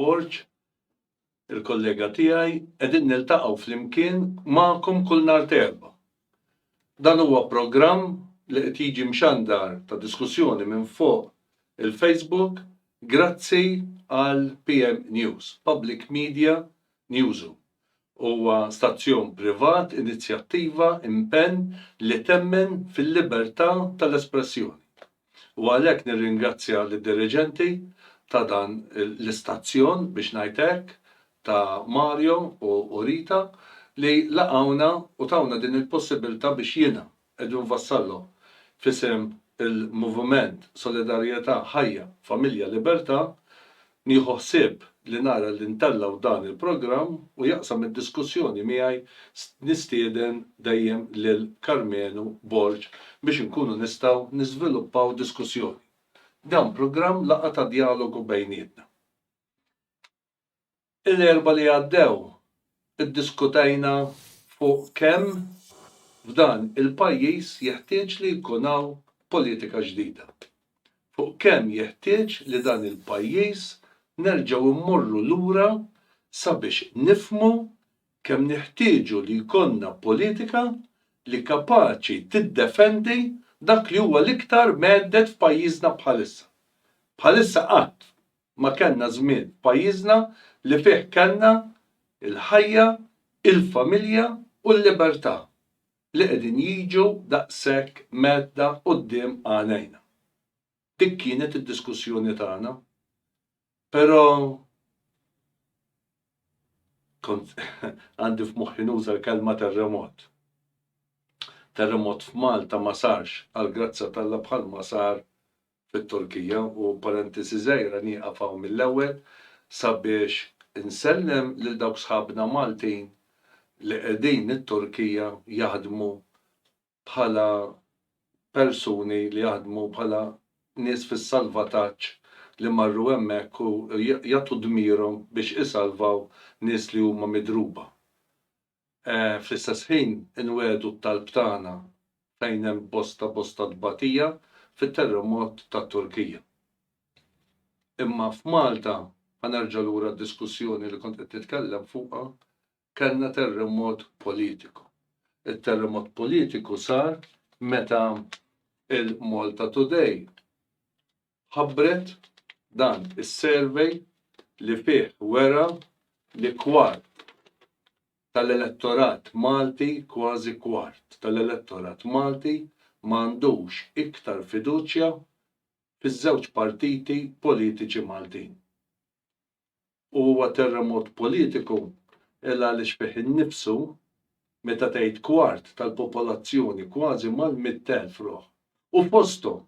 Borg, il-kollega tiegħi, qegħdin niltaqgħu flimkien magħkom kull nhar t'Erbgħa. Dan huwa programm li qed jiġi mxandar ta' diskussjoni minn fuq il-Facebook grazzi għal PMnews, Public Media Njuzu huwa stazzjon privat, inizjattiva, impenn li temmen fil-libertà tal-espressjoni u għalhekk nirringrazzja lid-diriġenti ta' dan l-istazzjon, biex ngħid hekk, ta' Mario u Rita li laqgħuna u tawna din il-possibilità biex jiena, Qegħdin nfassallhom f'isem il-Moviment Solidarjetà Ħajja Familja Libertà, nieħu ħsieb li nara li ntellgħu dan il-programm u jaqsam id-diskussjoni miegħi nistieden dejjem lil Karmenu Borg biex inkunu nistgħu niżviluppaw diskussjoni. Dan programm laqgħa ta' djalogu bejnietna. Il-Erbgħa li għaddew iddiskutejna fuq kemm f'dan il-pajjiż jeħtieġ li jkun hawn politika ġdida. Fuq kemm jeħtieġ li dan il-pajjiż nerġgħu mmorru lura sabiex nifhmu kemm neħtieġu li jkollna politika li kapaċi tiddefendi dak li huwa l-iktar mhedded f'pajjiżna bħalissa. Bħalissa qatt ma kellna żmien f'pajjiżna li fih kellna l-ħajja, il-familja u l-libertà li qegħdin jiġu daqshekk mgħeddda quddiem għajnejna. Dik kienet id-diskussjoni tagħna. Però kont għandi f'moħħi nuża l-kelma terremot. Terremot f'Malta ma sarx għall-grazzja t'Alla bħalma sar fit-Turkija u parentesi żgħira nieqaf hawn mill-ewwel sabiex insellem lil dawk sħabna Maltin li qegħdin it-Turkija jaħdmu bħala persuni li jaħdmu bħala nies fis-salvataġġ li marru hemmhekk u jagħtu dmirhom biex isalvaw nies li huma midruba Fl-istess ħin inwegħdu t-talb tagħna fejn hemm bosta bosta tbatija fit-terremot tat-Turkija. Imma f'Malta, ħa nerġa' lura għad-diskussjoni li kont qed nitkellem fuqha, kellna terremot politiku. It-terremot politiku sar meta il-MaltaToday ħabbret dan is-survey li fih wera li kwart tal-elettorat Malti, kważi kwart tal-elettorat Malti ma għandux iktar fiduċja fiż-żewġ partiti politiċi Maltin. u huwa terremot politiku il għaliex fih innifsu meta tgħid kwart tal-popolazzjoni kważi mal-mitt elf ruħ u fosthom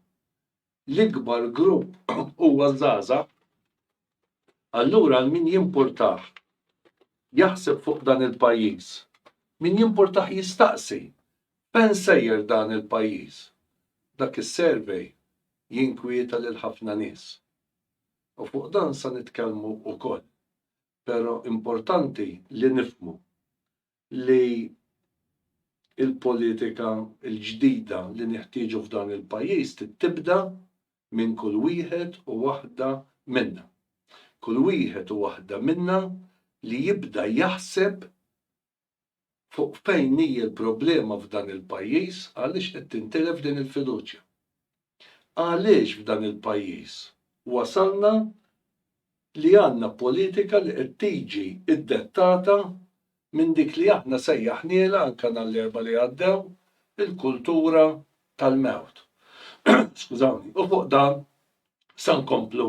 l-ikbar grupp huwa żgħażagħ, allura għal min jimpurtah jaħseb fuq dan il-pajjiż, min jimpurtah jistaqsi fejn sejjer dan il-pajjiż? Dak is-survey jinkwieta lil ħafna nies. U fuq dan sa nitkellmu ukoll. Pero importanti li nifhmu li il-politika l-ġdida li neħtieġu f'dan il-pajjiż trid tibda minn kull wieħed u waħda minna. Kull wieħed u waħda minna li jibda jaħseb fuq fejn hi l-problema f'dan il-pajjiż għaliex qed tintilef din il-fiduċja. Għaliex f'dan il-pajjiż wasalna li għandna politika li qed tiġi ddettata minn dik li aħna sejjaħnielha anke nhar l-Erbgħa li għaddew il-kultura tal-mewt. Skużawni. U fuq dan se nkomplu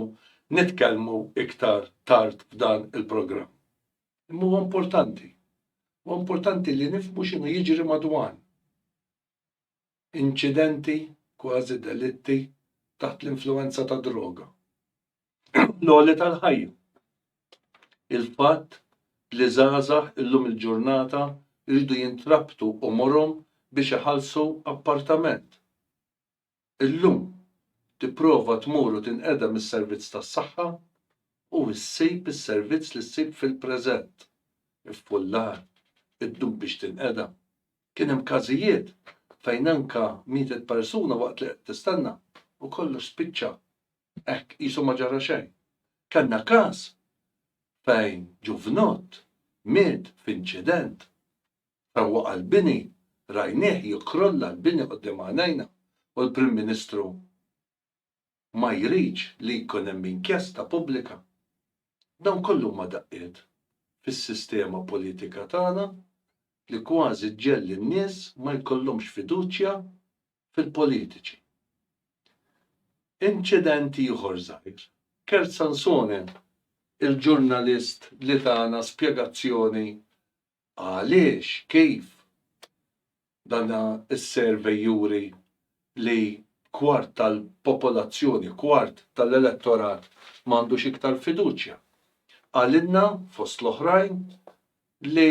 nitkellmu iktar tard f'dan il-programm. Imma huwa importanti. Huwa importanti li nifhmu x'inhu jiġri madwan. Inċidenti kważi delitti taħt l-influwenza ta' droga. L-għoli tal-ħajja. Il-fatt li żgħażagħ illum il-ġurnata jridu jintrabtu umurhom biex iħallsu appartament. Illum, tipprova tmur u tinqedem is-servizz tas-saħħa u ssib is-servizz li ssib fil-preżent. Iffullar, iddum biex tinqedem. Kien hemm każijiet fejn anke mietet persuna waqt li qed tistenna u kollox spiċċa hekk qisu ma ġara xejn. Kellna każ fejn ġuvnott miet f'inċident Meta waqa' l-bini, rajnieh jikkrolla l-bini quddiem għajnejna u l-Prim Ministru ma jridx li jkun hemm inkjesta pubblika. Dawn kollu huma daqqiet fis-sistema politika tagħna li kważi ġġegħli n-nies ma jkollhomx fiduċja fil-politiċi. Inċident ieħor żgħir. Kurt Sansone, il-ġurnalist li tana spjegazzjoni Għaliex? Kif? Dan is-survey juri li kwart tal-popolazzjoni, kwart tal-elettorat ma għandux iktar fiduċja. Qalilna, fost l-oħrajn, li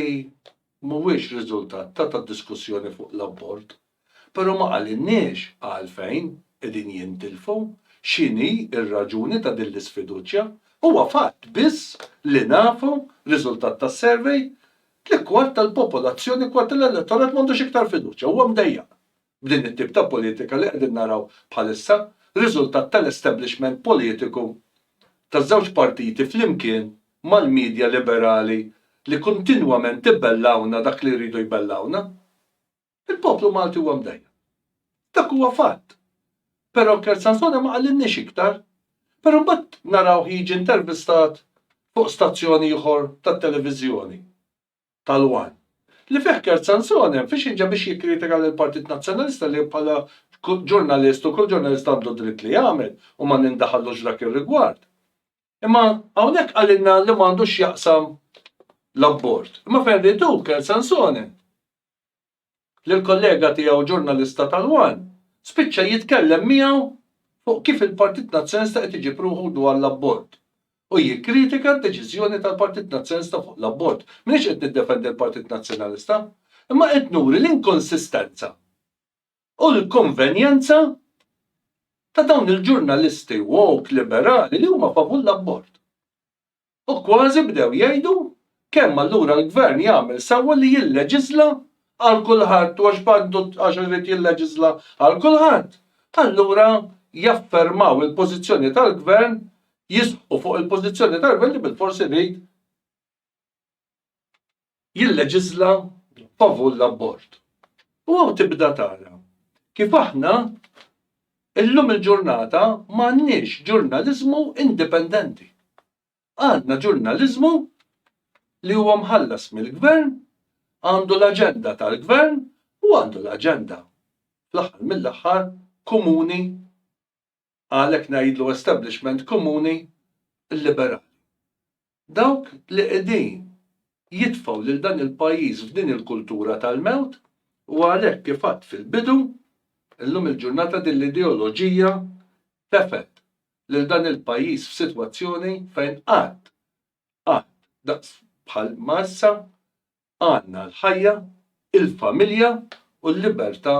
mhuwiex riżultat ta' ta' diskussjoni fuq l-abort, Però ma qalilniex għalfejn qegħdin jintilfu, x'inhi r-raġuni ta' din l-isfiduċja. Huwa fatt biss li nafu, riżultat ta' survey, tlikwart tal-popolazzjoni, kwart tal-elettorat m'għandux iktar fiduċja, huwa mdejjaq b'din it-tip ta' politika li qegħdin naraw bħalissa, riżultat tal-establishment politiku taż-żewġ partiti flimkien mal-media liberali li kontinwament ibellgħuna dak li jridu jbellgħuna. Il-poplu Malti huwa mdejjaq. Dak huwa fatt. Però Kersansone ma qalilniex iktar. Però mbagħad narawh jiġi intervistat fuq stazzjon ieħor tat-televiżjoni, tal-one, li fih Kersansone mfixkel ġa biex jikkritika lill-Partit Nazzjonalista li bħala ġurnalist u kull ġurnalist għandu d-dritt li jagħmel u ma nindaħallux f'dak ir-rigward. Imma hawnhekk qalilna li m'għandu x'jaqsam l-abort. Imma fejn ried hu, Kersansone, li l-kollega tiegħu ġurnalista tal-one spiċċa jitkellem miegħu fuq kif il-Partit Nazzjonista qed iġib ruħu dwar l-abort u jikkritika d-deċiżjoni tal-Partit Nazzjonista fuq l-abort. M'iniex qed niddefendi l-Partit Nazzjonalista, imma qed nuri l-inkonsistenza u l-konvenjenza ta' dawn il-ġurnalisti woke liberali li huma favur l-abort. U kważi bdew jgħidu kemm allura l-Gvern jagħmel sewwa li jilleġiżla għal kulħadd u għax b'għandu għax irid jilleġiżla għal kulħadd, allura jaffermaw il-pożizzjoni tal-Gvern, jisħqu fuq il-pożizzjoni tal-Gvern li bilfors irid jilleġiżla favur l-abort. U hawn tibda tara kif aħna illum il-ġurnata ma għandniex ġurnaliżmu indipendenti. Għandna ġurnaliżmu li huwa mħallas mill-Gvern, għandu l-aġenda tal-Gvern u għandu l-aġenda fl-aħħar mill-aħħar komuni għalhekk ngħidlu establishment komuni liberali. Dawk li qegħdin jitfgħu lil dan il-pajjiż f'din il-kultura tal-mewt u għalhekk kif għadt fil-bidu, illum il-ġurnata din l-ideoloġija tefgħet lil dan il-pajjiż f'sitwazzjoni fejn qatt, qatt daqs bħal ma issa għandna l-ħajja, il-familja u l-libertà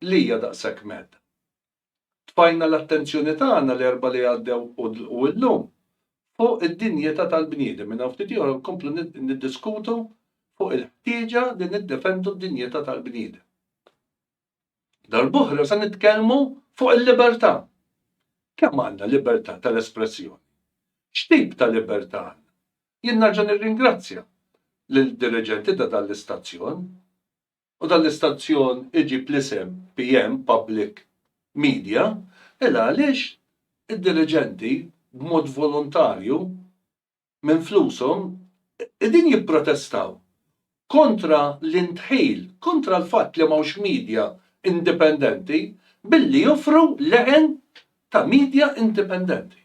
li hija daqshekk mhedda. tfajna l-attenzjoni tagħna l-Erbgħa li għaddew u llum fuq id-dinjità tal-bniedem. Minn hawn ftit ieħor nkomplu niddiskutu fuq il-ħtieġa li niddefendu d-dinjità tal-bniedem. Darb'oħra se nitkellmu fuq il-libertà. Kemm għandna libertà tal-espressjoni? X'tip ta' libertà għandna? Jien nerġa' nirringrazzja lill-diriġenti ta' dan l-istazzjon u dan l-istazzjon iġib l-isem PM, Public Media, il għaliex id-diriġenti b'mod volontarju minn flushom qegħdin jipprotestaw kontra l-indħil, kontra l-fatt li m'hawnx media indipendenti billi joffru leħen ta' media indipendenti.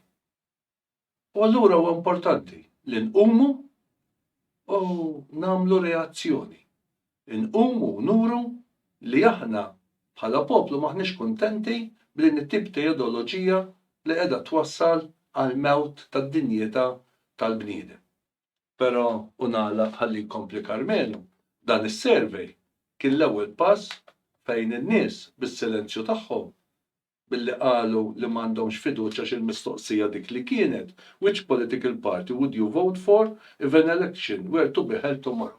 U allura huwa importanti li nqumu u nagħmlu reazzjoni. Inqumu u nuru li aħna bħala poplu m'aħniex kuntenti b'din it-tip ta' ideoloġija li qiegħda twassal għall-mewt tad-dinjità tal-bniedem. Però, u nagħlaq ħalli jkompli Karmenu, dan is-survey kien l-ewwel pass fejn in-nies bis-silenzju tagħhom billi qalu li m'għandhomx fiduċja għax il-mistoqsija dik li kienet which political party would you vote for if an election were to be held tomorrow?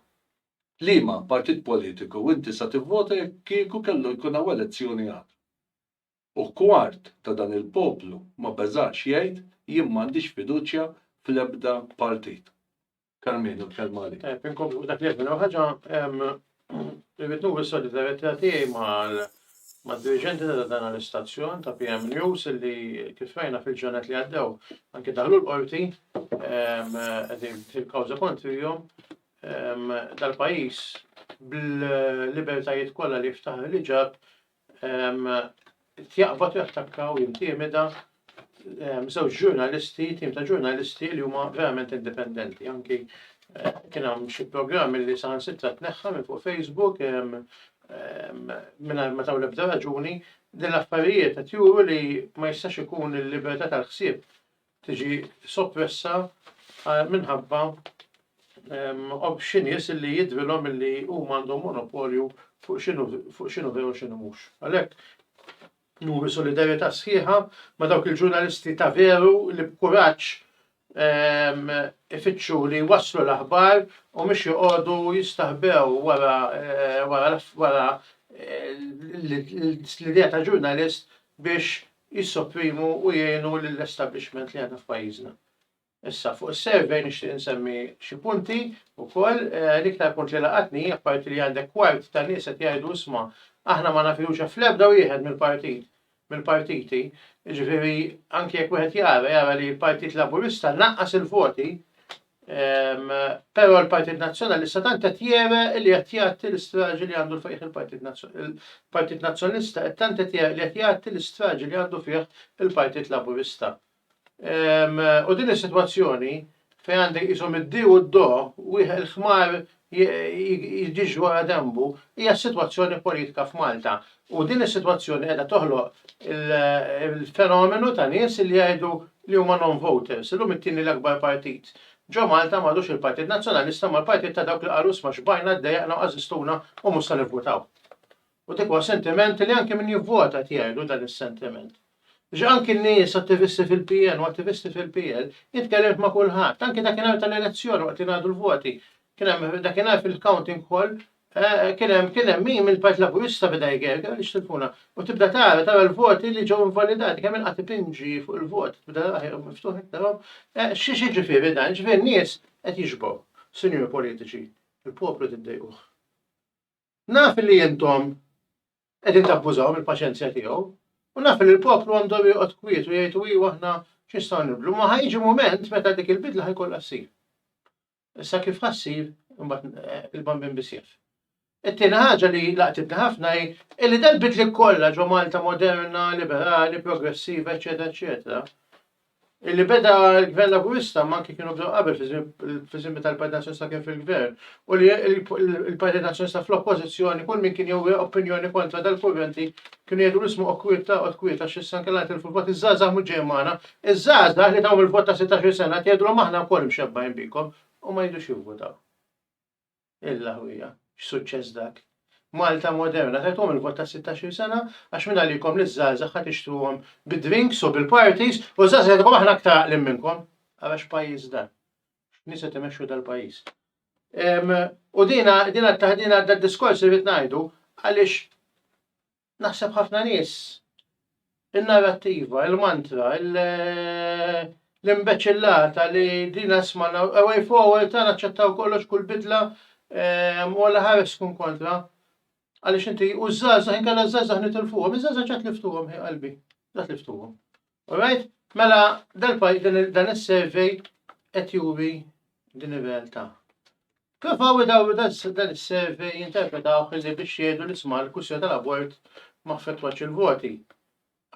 Liema partit politiku inti sa tivvota jekk kieku kellu jkun hawn elezzjoni għada? U kwart ta' dan il-poplu ma beżax jgħid jien m'għandix fiduċja fl-ebda partit. Carmenu, l-kelma għalik. Eh, Pinkom fuq dak li jgħidna ħaġa, irrid nuri solidarjetà tiegħi mad-diriġenti ta' dan l-istazzjon ta' PM News li kif rajna fil-ġenet li għaddew anke daħlu l-qorti qegħdin fil-kawża kontrihom dal-pajjiż bil-libertajiet kollha li jiftaħ li ġab jaqbad u jattakka u jintimida żewġ ġurnalisti, tim ta' ġurnalisti li huma verament indipendenti. Anki kien hemm xi programm li saħansitra tneħħa minn fuq Facebook mingħajr ma taw l-ebda raġuni, din l-affarijiet qed juru li ma jistax ikun il-libertà tal-ħsieb tiġi soppressa minħabba xi nies illi jidhrilhom illi huma għandhom monopolju fuq x'inhu fuq x'inhu veru x'inhu mhux. Għalhekk nuri solidarjetà sħiħa ma' dawk il-ġurnalisti ta' veru li b'kuraġġ ifittxu li jwasslu l-aħbar u mhux joqogħdu jistaħbew wara wara wara l-idea ta' ġurnalist biex jissopprimu u jgħinu lill-establishment li għandna f'pajjiżna. Issa, fuq is-survey nixtieq insemmi xi punti wkoll, eh, l-iktar punt li laqatni, apparti li għandek kwart ta' nies qed jgħidu isma' aħna ma nafilux fl-ebda wieħed mill-partit mill-partiti, ġifieri anke jekk wieħed jara jara li l-Partit Laburista naqqas il-voti Però l-Partit Nazzjonalista tant qed jere li qed jgħatti l-istraġi li għandu fih il-Partit il-Partit Nazzjonalista qed tant qed jere li qed jgħatti l-istraġi li għandu fih il-Partit Laburista. U din is-sitwazzjoni fejn għandek qishom id-di u d-do wieħed il-ħmar jiġu għal denbu hija s-sitwazzjoni politika f'Malta u din is-sitwazzjoni qiegħda toħloq il-fenomenu ta' nies li jgħidu li huma non-voters. Illum it-tieni l-akbar partit ġo Malta m'għadux il-Partit Nazzjonalista imma l-partit ta' dawk li qalu isma' x'bajna għaddejja aħna u qazistuna u mhux se nivvutaw. U dak huwa sentiment li anki min jivvota qed jgħidu dan is-sentiment. Biex anki n-nies attivisti fil-PN u attivisti fil-PL, jien tkellimt ma' kulħadd, anki dakinhar tal-elezzjoni waqt li ngħadu l-voti, kien hemm dakinhar fil-counting hall eh, kien hemm kien hemm min mill-Partit Laburista beda jgerger biex tilfuna u tibda tara tara l-voti li ġew invalidati kemm inqatt ipinġi fuq il-vot tibda taraħ miftuħ iktarhom eh, x'jiġifieri dan, jiġifieri n-nies qed jixbgħu, sinjuri politiċi, il-poplu tiddejquh. Naf li intom qegħdin tabbużaw mill-paċenzja tiegħu, u naf li l-poplu għandhom joqgħod kwiet u jgħidu iju aħna x'nistgħu nibdlu, imma ħa jiġi mument meta dik il-bidla ħa jkollha ssir. Issa kif ħa ssir imbagħad eh, il-bambin bisjef. It-tieni ħaġa li laqtitni ħafna hi illi dal-bidli kollha ġo Malta moderna, liberali, progressiva, eċetera, eċetera, Illi beda l-Gvern Laburista ma anki kienu bdew qabel fiż-żmien meta l-Partit Nazzjonista kien fil-Gvern u li l-Partit Nazzjonista fl-Oppożizzjoni kull min kien jew opinjoni kontra dal-kurrenti kienu jgħidu l-ismu u kwiet taqgħod kwiet għax issa nkella nitilfu l-vot iż-żgħażagħ mhux ġej magħna, iż-żgħażagħ li tawhom il-vot ta' sittax-il sena qed jgħidulhom aħna wkoll mxebbgħin bikom u ma jridux jivvutaw. Il-laħwija, x'suċċess dak! Malta moderna tagħthom il-vot ta' sittax-il sena għax min għalikom li ż-żgħażagħ ħa tixtruhom bid-drinks u bil-parties u ż-żgħażagħ jgħidulkom aħna aktar għaqlin minnkom. Ara x'pajjiż dan. X'nies qed imexxu dal-pajjiż. U dina dina d-diskors li rrid ngħidu għaliex Naħseb ħafna nies in-narrattiva, il-mantra, l-imbeċillata li dina smajna, a way forward ta' naċċettaw kollox kull bidla u alla ħares tkun kontra. Għaliex inti u ż-żgħażagħ inkella ż-żgħażagħ nitilfuhom, iż-żgħażagħ ġa tliftuhom ħi qalbi, ġa tliftuhom. Alright? Mela dan is-survey qed juri din ir-realtà. Provaw idawru dan is-survey jinterpretaw li biex jgħidu li sma' l-kwistjoni tal-abort ma affettwax il-voti.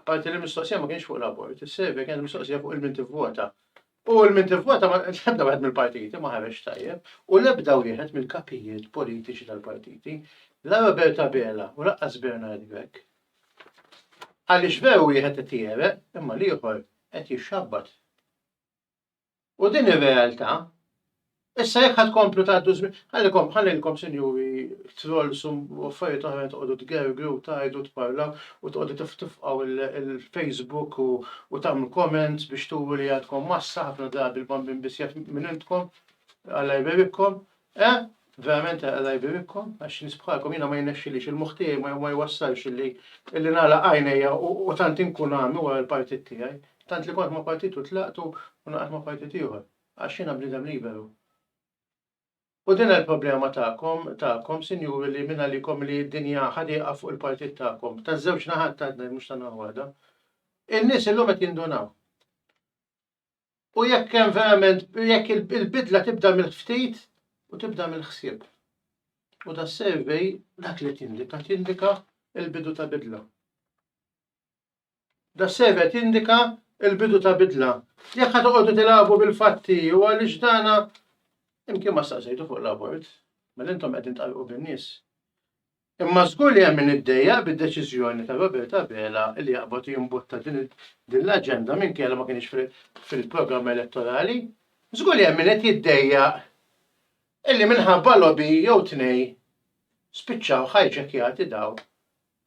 Apparti li mistoqsija ma kienx fuq l-abort, is-survey kienet mistoqsija fuq il-min tivvota. U għal min tivvota l-ebda wieħed mill-partiti ma ħareġ tajjeb u l-ebda wieħed mill-kapijiet politiċi tal-partiti la Robert Abela u laqqas Bernard Grech. Għaliex veru wieħed qed jiereq imma l-ieħor qed jixxabbat. U din ir-realtà Issa jekk ħa tkomplu tgħaddu żmien, ħallikom, ħallilkom sinjuri trolls u affarijiet oħrajn toqgħodu tgergru u tgħidu u tparlaw u toqgħodu tiftifqgħu il-Facebook u tagħmlu comments biex turu li għadkom massa ħafna drabi l-bambin biss jaf min intkom, Alla jbierikkom, eh? Verament Alla jbierikkom għax nies bħalkom jiena ma jnexxilix il-moħħ tiegħi ma jwassalx illi illi nagħlaq għajnejja u tant inkun għami wara l-partit tiegħi, tant li kont ma' partit u tlaqt u naqadt ma' partit ieħor. Għax jiena bniedem liberu. U din hi l-problema tagħkom, tagħkom, sinjuri, li minn għalikom li d-dinja ħadieqa fuq il-partit tagħkom, taż-żewġ naħat ta' d-dneb mhux ta' naħa waħda. In-nies illum qed jindunaw. U jekk hemm verament, jekk il-bidla tibda mill-ftit u tibda mill-ħsieb. U da survey dak li tindika, tindika il-bidu ta' bidla. Das-CV tindika l-bidu ta' bidla. Jekk qed toqogħdu tilagħbu bil-fatti u għaliex dana imkien ma staqsejtu fuq l-abort, mela intom qegħdin tqallqu bin-nies. Imma żgur li hemm min iddejjaq bid-deċiżjoni ta' Robert Abela li jaqbad jimbutta din l-aġenda minkejja li ma kinitx fil-programm elettorali. Żgur li hemm min qed jiddejjaq illi minħabba lobby jew tnejn spiċċaw hijackjati dawn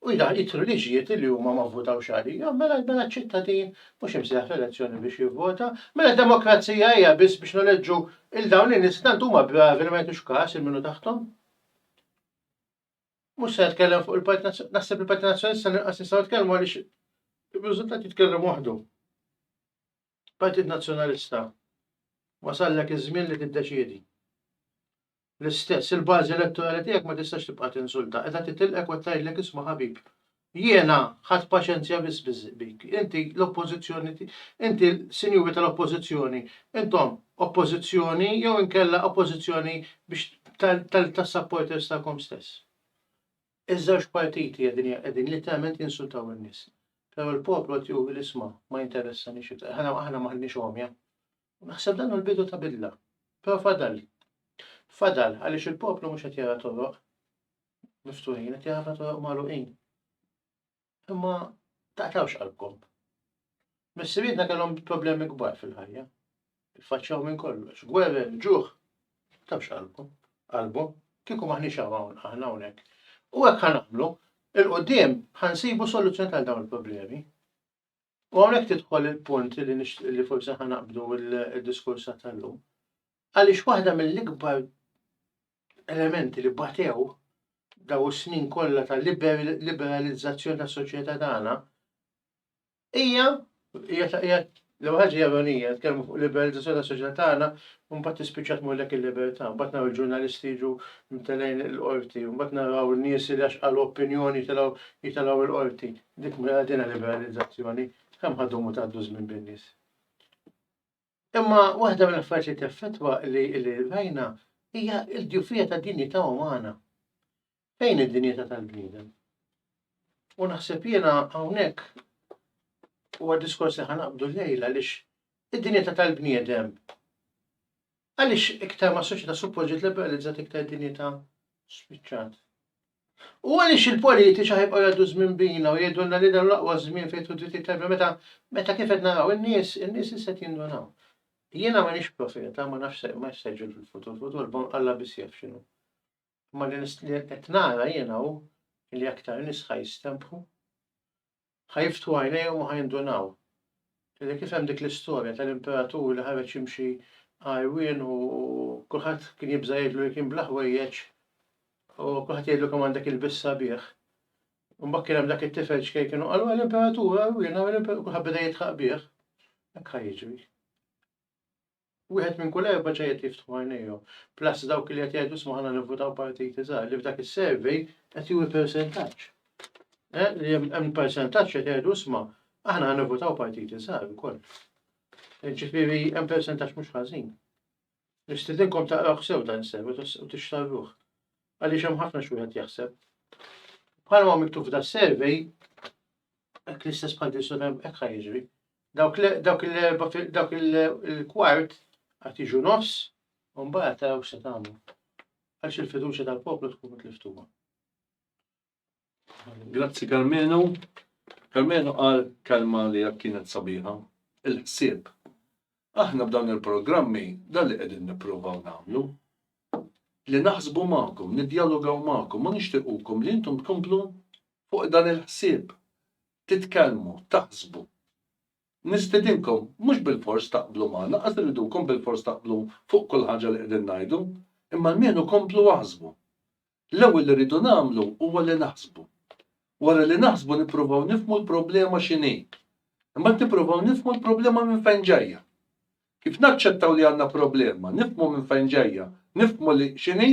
u jdaħħal jidħlu liġijiet li huma ma vvutawx għalihom, mela mela ċ-ċittadin mhux imsejjaħ fl-elezzjoni biex jivvota. Mela d-demokrazija hija biss biex neleġġu lil dawn in-nies li tant huma bravi li ma jagħtux kas lil min hu taħthom? Mhux se nitkellem fuq il-Partit Nazzjonalista, naħseb il-Partit Nazzjonalista l-inqas nistgħu nitkellmu għaliex ir-riżultat jitkellem waħdu. Partit Nazzjonalista, wasallek iż-żmien li tiddeċiedi. L-istess, il-bażi elettorali tiegħek ma tistax tibqa' tinsulta, qiegħda titilqek u qed tgħidlek isma' ħabib, jiena ħadt paċenzja biss bik, inti l-Oppożizzjoni, inti sinjuri tal-Oppożizzjoni, intom Oppożizzjoni jew inkella Oppożizzjoni biex tas-supporters tagħkom stess. Iż-żewġ partiti qegħdin qegħdin litteralment jinsultaw in-nies. Però l-poplu qed juri li isma', ma jinteressaniex iktar. Aħna aħna m'aħniex għomja. U naħseb dan hu l-bidu ta' bidla. Però fadal. Fadal għaliex il-poplu mhux qed jara toroq miftuħin, qed jara ħafna toroq magħluqin. Imma taqtawx qalbkom. Missirietna kellhom problemi kbar fil-ħajja. Iffaċċjaw minn kollox, gwerer, ġuħ. Taqtawx qalbkom, qalbhom, kieku maħniex hawn aħna hawnhekk. U hekk ħanagħmlu, il-quddiem ħansibu soluzzjoni għal dawn il-problemi. U hawnhekk tidħol il-punt li nixtieq li forsi ħa naqbdu l-diskursa tal-lum. Għaliex waħda mill-ikbar elementi li batew daw is-snin kollha ta' liberalizzazzjoni tas soċjetà tagħna hija hija l ħaġa ironija, tkellmu fuq liberalizzazzjoni tas soċjetà tagħna, mbagħad tispiċċa tmurlek il-libertà, mbagħad naraw il-ġurnalisti jiġu mtelejn il-qorti, mbagħad naraw nies li għax qalu opinjoni jitilgħu il-qorti. Dik mela din liberalizzazzjoni kemm ħadhom u tgħaddu żmien bin-nies. Imma waħda mill-affarijiet li teffettwa li l-irvajna hija l-ġufija ta' dinjità umana. Fejn id-dinjità tal-bniedem? U naħseb jiena hawnhekk huwa diskors li ħanaqbdu lejla lix id-dinjità tal-bniedem għaliex iktar ma' soċjetà suppost ġiet liberalizzat iktar dinjità spiċċat. U għaliex il-politiċi ħa jibqgħu jgħaddu ż-żmien bina u jgħidulna li dan hu l-aqwa żmien fejn jidħlu d-drittijiet tal-bniedem meta meta kif qed naraw in-nies in-nies issa qed jindunaw. Jiena m'iniex profeta, ma nafx se ma se jiġri fil-futur, il-futur bon Alla biss jaf x'inhu. Imma li qed nara jiena hu li aktar nies ħa jistenbħu Ħa jiftħu għajnejhom u ħa jindunaw li dik isem dik l-istorja tal-imperatur li ħareġ jimxi għarwien u kulħadd kien jibża' jgħidlu li kien bla ħwejjeġ u kulħadd jgħidlu kemm għandek ilbies sabiħ. U mbagħad kien hemm dak it-tifel ċkejken kienu qalu l-imperatur għarwien kulħadd beda jidħaq bih. Hekk ħa jiġri. Wieħed minn kull erba' ġa qed jiftħu għajnejhom, plus dawk li qed jgħidu isma' aħna nivvutaw partit iżgħar, li f'dak is-survey qed juri persentaġġ. Eh, li hemm persentaġġ qed jgħidu isma' aħna ħa nivvutaw partit iżgħar ukoll. Eh, ġifieri hemm persentaġġ mhux ħażin. Nistidinkom taqrawh sew dan is-survey u tixtarruh. Għaliex hemm ħafna x'wieħed jaħseb. Bħalma miktub f'da survey, hekk l-istess bħal Kristu hekk ħajġri. Dawk l- dawk l-erba fil- dawk il- il-kwart għad jiġu nofs u mbagħad taraw x'se tagħmlu. Għaliex il-fiduċja tal-poplu tkun mitliftuha. Grazzi Karmenu. Karmenu qal kelma li hekk kienet sabiħa, il-ħsieb. Aħna b'dawn il-programmi dan li qegħdin nippruvaw nagħmlu. Li naħsbu magħkom, nidjalogaw magħkom u nixtiequkom li intom tkomplu fuq dan il-ħsieb. titkellmu, taħsbu. Nistidinkom mhux bilfors taqblu magħna, lanqas irridukom bilfors taqblu fuq kull ħaġa li qegħdin ngħidu, imma almenu komplu aħsbu. L-ewwel li rridu nagħmlu huwa li naħsbu. Wara li naħsbu nippruvaw nifhmu l-problema x'inhi. Imbagħad nippruvaw nifhmu l-problema minn fejn ġejja. Kif naċċettaw li għandna problema, nifhmu minn fejn ġejja, nifhmu li x'inhi,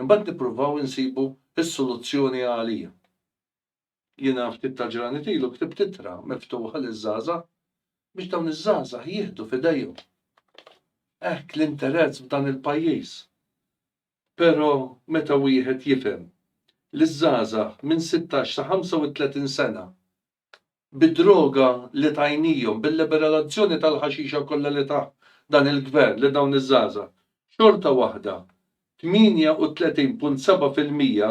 imbagħad nippruvaw insibu s-soluzzjoni għalija. Jiena ftit tal-ġranet ilu ktibt ittra miftuħa liż-żgħażagħ biex dawn iż-żgħażagħ jieħdu f'idejhom hekk l-interezz f'dan il-pajjiż. Però meta wieħed jifhem li ż-żgħażagħ minn sittax sa ħamsa u tletin sena bid-droga li tajnihom, bil-liberalazzjoni tal-ħaxixa kollha li tah dan il-Gvern lil dawn iż-żgħażagħ, xorta waħda tmienja u tletin punt seba' fil-mija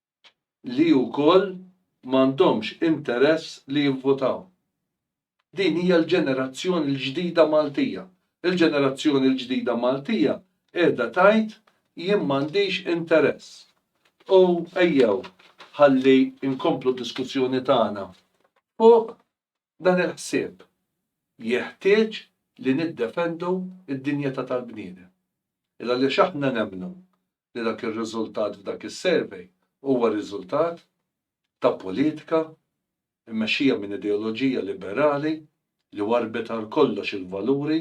li wkoll m'għandhomx interess li jivvutaw. Din hija l-ġenerazzjoni l-ġdida Maltija. Il-ġenerazzjoni l-ġdida Maltija qiegħda tgħid jien m'għandix interess. U ejjew ħalli nkomplu d-diskussjoni tagħna fuq Dan il-ħsieb jeħtieġ li niddefendu d-dinjità tal-bniedem. Għaliex aħna nemmnu li dak ir-riżultat f'dak is-survey huwa riżultat ta' politika mmexxija minn ideoloġija liberali li warrbet għal kollox il-valuri,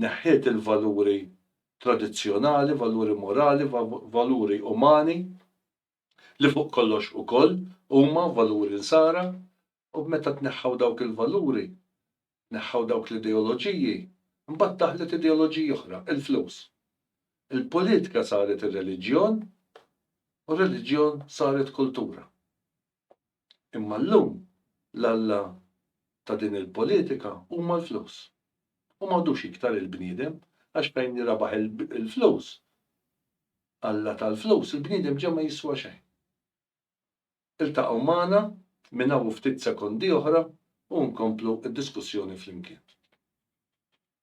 neħħiet il-valuri tradizzjonali, valuri morali, valuri umani. li fuq kollox ukoll huma valuri nsara u meta tneħħew dawk il-valuri, tneħħew dawk l-ideoloġiji, imbagħad daħlet ideoloġija oħra, il-flus. Il-politika saret ir-reliġjon u r-reliġjon saret kultura. Imma llum l-Alla ta' din il-politika huma l-flus. U m'għadux iktar il-bniedem, għax fejn jirabaħ il-flus, Alla tal-flus, il-bniedem ġa ma jiswa xejn. Iltaqgħu magħna minn hawn u ftit sekondi oħra u nkomplu d-diskussjoni flimkien.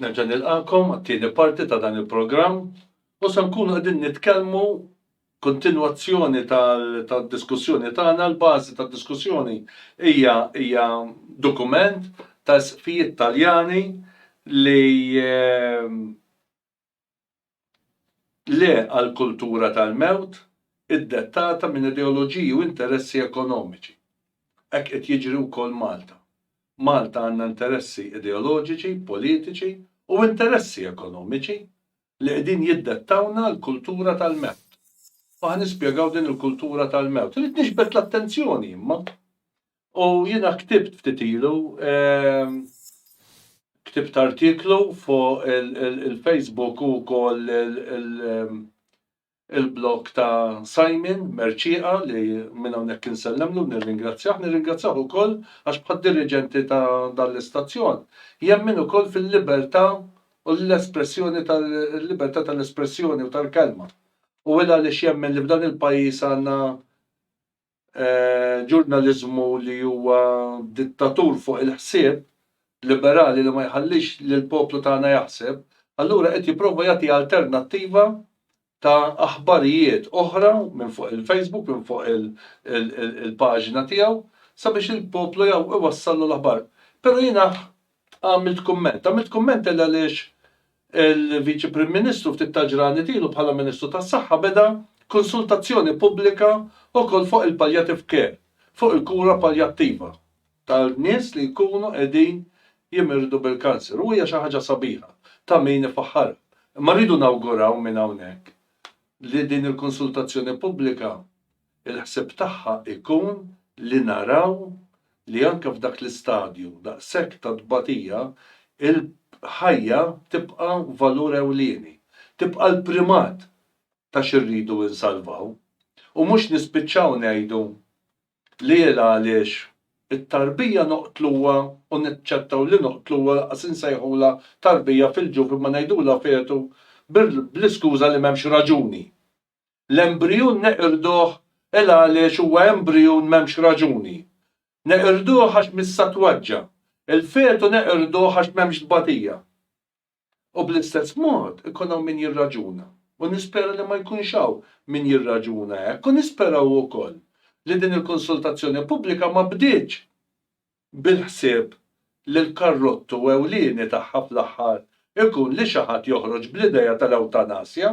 Nerġa' nilqakom għat-tieni parti ta' dan il-programm u se nkunu qegħdin nitkellmu kontinwazzjoni tad-diskussjoni tagħna, l-bażi tad-diskussjoni hija hija dokument ta' isqfijiet Taljani li Le għal kultura tal-mewt iddettata minn ideoloġiji u interessi ekonomiċi. Hekk qed jiġri wkoll Malta. Malta għandna interessi ideoloġiċi, politiċi u interessi ekonomiċi li qegħdin jiddettawlna l-kultura tal-mewt. U ħa nispjegaw din il-kultura tal-mewt. Irrid niġbed l-attenzjoni imma U jiena ktibt ftit ilu, ktibt artiklu fuq il-Facebook u wkoll il-blog ta' Simon Mercieqa li minn hawnhekk insellemlu nirringrazzjah, nirringrazzjah ukoll għax bħad-diriġenti ta' dan l-istazzjon jemmen ukoll fil-libertà u l-espressjoni tal-libertà tal-espressjoni u tal-kelma. U hu għaliex jemmen li f'dan il-pajjiż għandna ġurnaliżmu li huwa dittatur fuq il-ħsieb, liberali li ma jħallix lill-poplu tagħna jaħseb, allura qed jipprova jagħti alternattiva ta' aħbarijiet oħra minn fuq il-Facebook, minn fuq il-paġna tiegħu sabiex il-poplu iwassallu l-aħbar. Però jiena Għamilt kumment. Għamilt kumment għal għaliex il-Viċi Prim Ministru ftit tal-ġranet ilu bħala Ministru tas-Saħħa beda konsultazzjoni pubblika wkoll fuq il-palliative care, fuq il-kura paljattiva ta' nies li jkunu qegħdin jimirdu bil-kanser u hija xi ħaġa sabiħa ta' min ifaħħarha. Imma rridu nawguraw minn hawnhekk li din il-konsultazzjoni pubblika Il-ħsieb tagħha jkun li naraw li anke f'dak l-istadju daqshekk ta' tbatija, il-ħajja tibqa' valur ewlieni, tibqa' l-primat ta' xi rridu insalvaw, u mhux nispiċċaw ngħidu li il-għaliex it-tarbija noqtluha u naċċettaw li noqtluha, lanqas insejħulha tarbija fil-ġuf imma ngħidulha fetu bl-iskuża li m'hemmx raġuni L-embrijun neqirduh il għaliex huwa embrijun m'hemmx raġuni. Neqirduh għax mis-satwaġġa. Il-fetu neqirduh għax m'hemmx tbatija. U bl-istess mod ikun hawn min jirraġuna, u nispera li ma jkunx hawn min jirraġuna hekk, u nisperaw ukoll li din il-konsultazzjoni pubblika ma bdietx bil-ħsieb li l-karrottu ewlieni tagħha fl-aħħar ikun li xi ħadd joħroġ bl-idea tal-ewtanasja.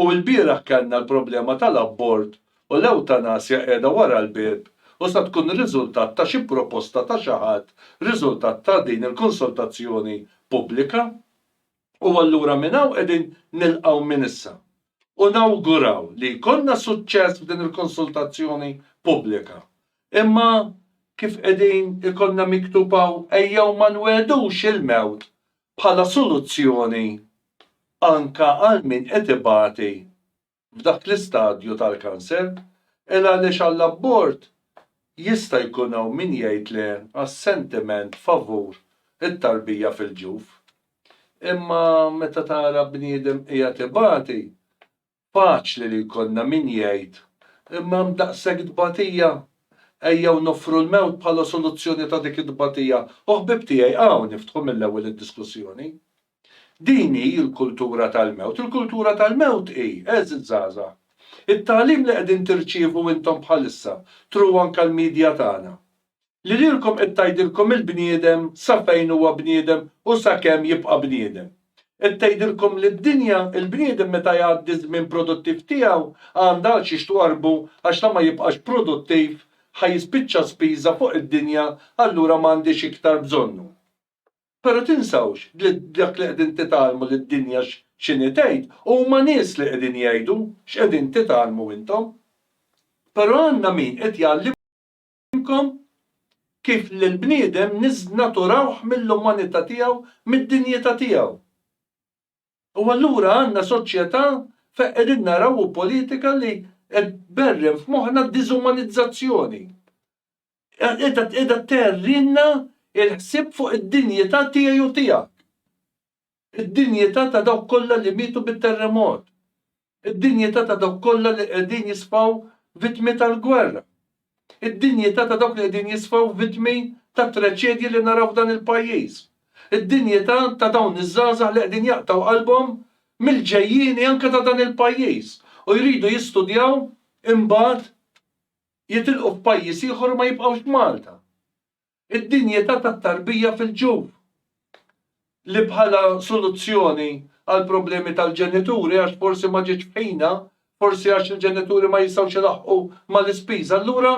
U ilbieraħ kellna l-problema tal-abort u l-ewtanasja qiegħda wara l-bieb u sa tkun riżultat ta' xi proposta ta' xi ħadd riżultat ta' din il-konsultazzjoni pubblika. U allura minn hawn qegħdin nilqgħu minn issa u nawguraw li jkollna suċċess f'din il-konsultazzjoni pubblika. Imma kif qegħdin ikollna miktub hawn ejjew ma nwegħdux il-mewt bħala soluzzjoni anke għal min qed ibati f'dak l-istadju tal-kanser, il għaliex għall-abort jista' jkun hawn min jgħid le għas-sentiment favur it-tarbija fil-ġuf. Imma meta tara bniedem qiegħed ibati, Faċli li jkollna min jgħid, Imma hemm daqshekk tbatija! Ejjew noffru l-mewt bħala soluzzjoni ta' dik it-tbatija, u ħbieb tiegħi, hawn niftħu mill-ewwel id-diskussjoni. Din hi l-kultura tal-mewt. Il-kultura tal-mewt hi, għeżież żgħażagħ, it-tagħlim li qegħdin tirċievu intom bħalissa, through anke l-media tagħna. li lilkom qed tgħidilkom il-bniedem sa fejn huwa bniedem u sakemm jibqa' bniedem. Qed tgħidilkom li d-dinja, il-bniedem meta jgħaddi ż-żmien produttiv tiegħu, għandha għal xiex twarrbu għax la ma jibqax produttiv, ħa jispiċċa spiża fuq id-dinja allura ma għandhiex iktar bżonnu. Però tinsawx li dak li qegħdin titgħallmu li d-dinja x'inhi tgħid, huma nies li qegħdin jgħidu x'qegħdin titgħallmu intom. Però għandna min qed jgħallimkom. ngħallimkom kif lill-bniedem niżznaturawh mill-umanità tiegħu, mid-dinjità tiegħu. U allura għandna soċjetà fejn qegħdin naraw u politika li qed tberren f'moħħna d-diżumanizzazzjoni. Qiegħda tgħerrilna l-ħsieb fuq id-dinjità tiegħi u tiegħek. Id-dinjità ta' dawk kollha li mietu bit-terremot. Id-dinjità ta' dawk kollha li qegħdin jisfaw vittmi tal-gwerra. Id-dinjità ta' dawk li qegħdin jisfaw vittmi tat-traċedji li naraw f'dan il-pajjiż. Id-dinjità ta' dawn iż-żgħażagħ li qegħdin jaqtgħu qalbhom mill-ġejjieni anke ta' dan il-pajjiż u jridu jistudjaw imbagħad jitilqu f'pajjiż ieħor u ma jibqgħux f'Malta. Id-dinjità tat-tarbija fil-ġuf, li bħala soluzzjoni għall-problemi tal-ġenituri għax forsi ma ġietx f'ħinha, forsi għax il-ġenituri ma jistgħux ilaħħqu mal-ispiża, allura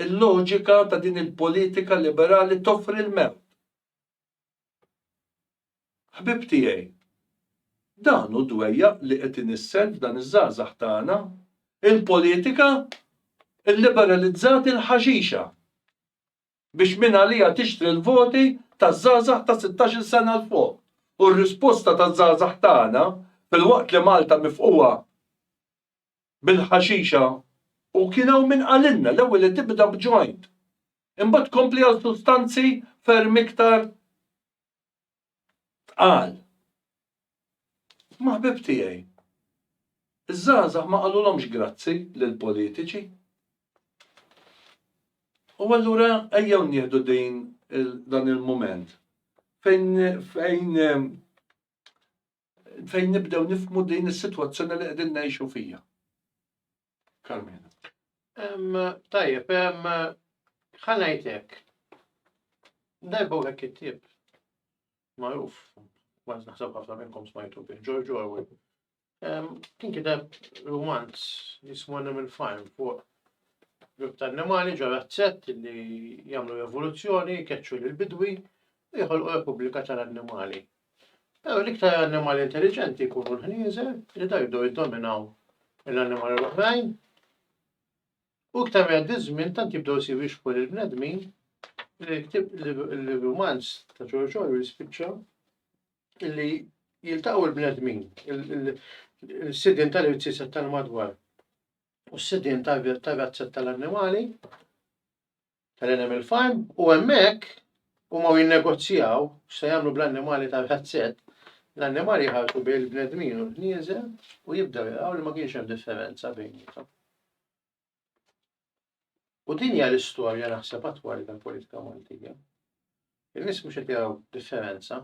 l-loġika ta' din il-politika liberali toffri l-mewt. Ħbieb tiegħi, dan hu d-dwejjaq li qed inissel f'dan iż-żgħażagħ tagħna, il-politika lliberalizzat il-ħaxixa biex mingħaliha tixtri l-voti taż-żgħażagħ ta' sittax-il sena 'l fuq. U r-risposta taż-żgħażagħ tagħna, filwaqt li Malta mifqugħa bil-ħaxixa u kien hawn min qalilna l-ewwel li tibda b'joint, imbagħad tkompli għal sustanzi ferm iktar tqal. Imma ħbieb tiegħi, iż-żgħażagħ ma qalulhomx grazzi lill-politiċi. U allura ejjew nieħdu din dan il-mument fejn fejn Fejn nibdew nifhmu din is-sitwazzjoni li qegħdin ngħixu fiha. Carmena. Tajjeb, ħa ngħid hekk. Darba hekk it-tip magħruf, ma naħseb ħafna minnkom smajtu bih, George Orwell. Kien kiteb romanz jismu Animal Farm fuq grupp ta' annimali ġo razzett li jagħmlu evoluzzjoni, keċċu l-bidwi, jħolqu repubblika tal-annimali. Però l-iktar annimali intelliġenti jkunu l-ħnieżer li da jibdew jiddominaw l-annimali l-oħrajn. U iktar ma jgħaddi żmien tant jibdew isiru jixbħu lil bnedmin l-romanz ta' George Orwell jispiċċa li jiltaqgħu l-bnedmin, il-sidien tal-irziset tal-madwar u s-sidien tal-razzet tal-annimali tal-animal farm u hemmhekk huma u jinnegozjaw x'se jagħmlu bl-annimali tal-ħazzett, l-annimali jħarsu bejn il-bnedmin u l-ħnieżer u jibdew jaraw li ma kienx hemm differenza bejniethom. U din hija l-istorja naħseb attwali tal-politika Maltija. Il-nies mhux qed jaraw differenza.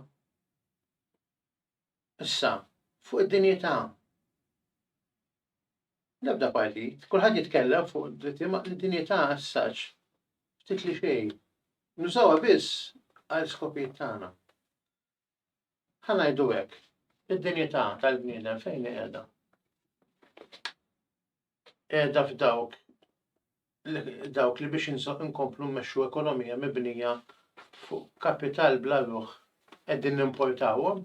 Issa, fuq id-dinjità. L-ebda partit, kulħadd jitkellem fuq id-dinjità assaġġ ftit li xejn. Nużawha biss għal skopijiet tagħna. Ħa ngħidu hekk, id-dinjità tal-bniedem fejn qiegħda? qiegħda f'dawk dawk li biex inkomplu mmexxu ekonomija mibnija fuq kapital bla ruħ qegħdin nimportawhom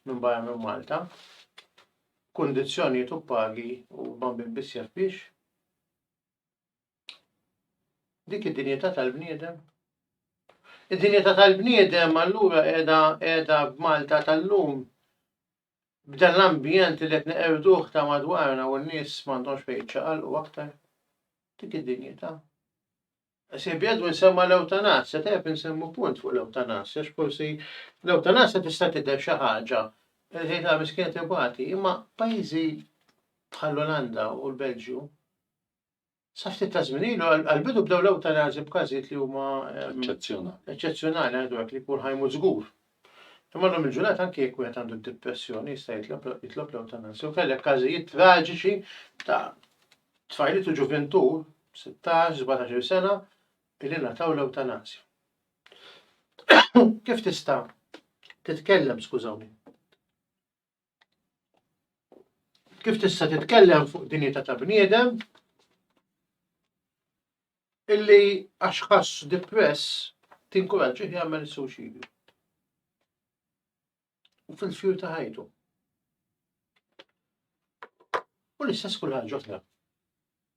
minn barra minn Malta, kundizzjonijiet u pagi huma minn biss jaf biex. Dik id-dinjità tal-bniedem. Id-dinjità tal-bniedem allura qiegħda qiegħda b'Malta tal-lum B'dan l-ambjent li qed neqirduh ta' madwarna u n-nies m'għandhomx fejn jiċċaqalqu aktar. Dik id-dinjità. Ħsieb Edwin semma l-ewtanasja, tajjeb insemmu punt fuq l-ewtanasja għax forsi l-ewtanasja tista' tidher xi ħaġa li tgħid ah miskien qed ibati, imma pajjiżi bħall-Olanda u l-Belġju, Sa ftit ta' żmien ilu, għall-bidu bdew l-ewtanażi b'każijiet li huma eċċezzjonali. Eċċezzjonali għadu hekk li jkun ħaj mhux żgur. Imma llum il-ġurnata anke jekk wieħed għandu d-depressjoni jista' jitlob l-ewtanażi. U kellek każijiet traġiċi ta' tfajliet u ġuvintu, 16-17 sena, li nataw l-ewtanażi. Kif tista' titkellem, skużawni? Kif tista' titkellem fuq dinjità ta' bniedem illi għax ħass depress tinkuraġġih jagħmel suċidju. U fil-fjur ta' ħajtu. U l-istess kull ħaġa oħra.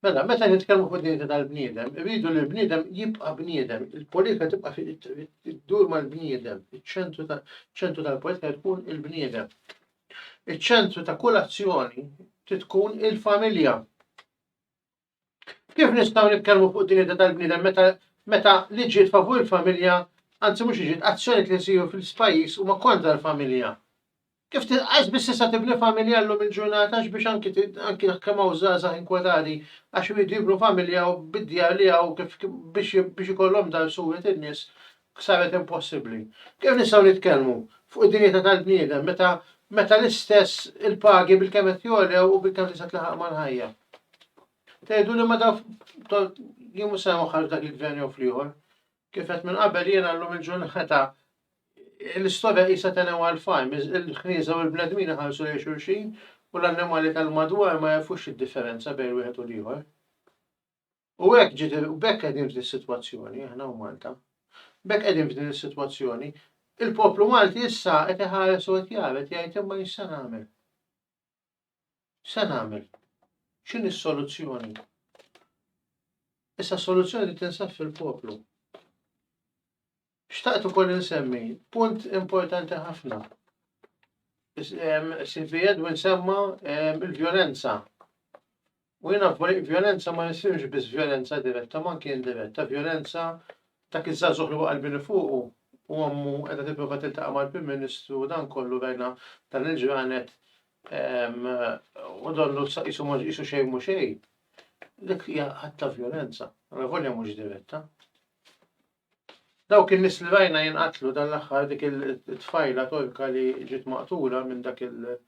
Mela, meta nitkellmu fuq dinjità tal-bniedem, irridu li l-bniedem jibqa' bniedem, il-politika tibqa' iddur mal-bniedem, iċ-ċentru tal-politika tkun il-bniedem. Iċ-ċentru ta' kull azzjoni tkun il-familja. Kif nistgħu nitkellmu fuq dinjità tal-bniedem meta meta liġijiet favur il-familja, anzi mhux liġijiet, azzjonijiet li jsiru fil-pajjiż huma kontra l-familja? Kif tinqas biss issa tibni familja llum il-ġurnata għax biex anki anki jekk kemm hawn żgħażagħ inkwetati għax iridu jibnu familja u bid-djar li hawn kif biex biex ikollhom dar suwiet in-nies saret impossibbli. Kif nistgħu nitkellmu fuq id-dinjità tal-bniedem meta meta l-istess il-pagi bilkemm qed jogħlew u bilkemm tista' tlaħaq mal-ħajja. Tgħiduli ma dawk jien mhux se nwaħħal f'dak il-gvern jew fl-ieħor. Kif għedt minn qabel jiena llum il-ġurnata l-istorja qisha tenewwa għal fajm, il-ħnieżer u l-bnedmin iħarsu lejn xulxin u l-annimali tal-madwar ma jagħrfux id-differenza bejn wieħed u l-ieħor. U hekk ġiet u b'hekk qegħdin f'din is-sitwazzjoni aħna u Malta. B'hekk qegħdin f'din is-sitwazzjoni. Il-poplu Malti issa qed iħares u qed jara qed jgħid imma jista' nagħmel. Se nagħmel? X'inhi s-soluzzjoni? Issa s-soluzzjoni li tinsab fil-poplu. Xtaqt ukoll insemmi punt importanti ħafna. Sifi Edwin semma il-vjolenza. U jiena f'barijiet vjolenza ma jisirx biss vjolenza diretta ma anki indiretta, vjolenza dak iż-żagħżugħ li waqa' l-bini fuqu u ommu qiegħda tipprova tiltaqa' mal-Prim Ministru u dan kollu rajna dan il-ġranet u donnu qisu qisu xejn mhu xejn. Dik hija att ta' vjolenza, volja mhux diretta. Dawk in-nies li rajna jinqatlu dan l-aħħar dik it-tfajla Torka li ġiet maqtula minn dak il-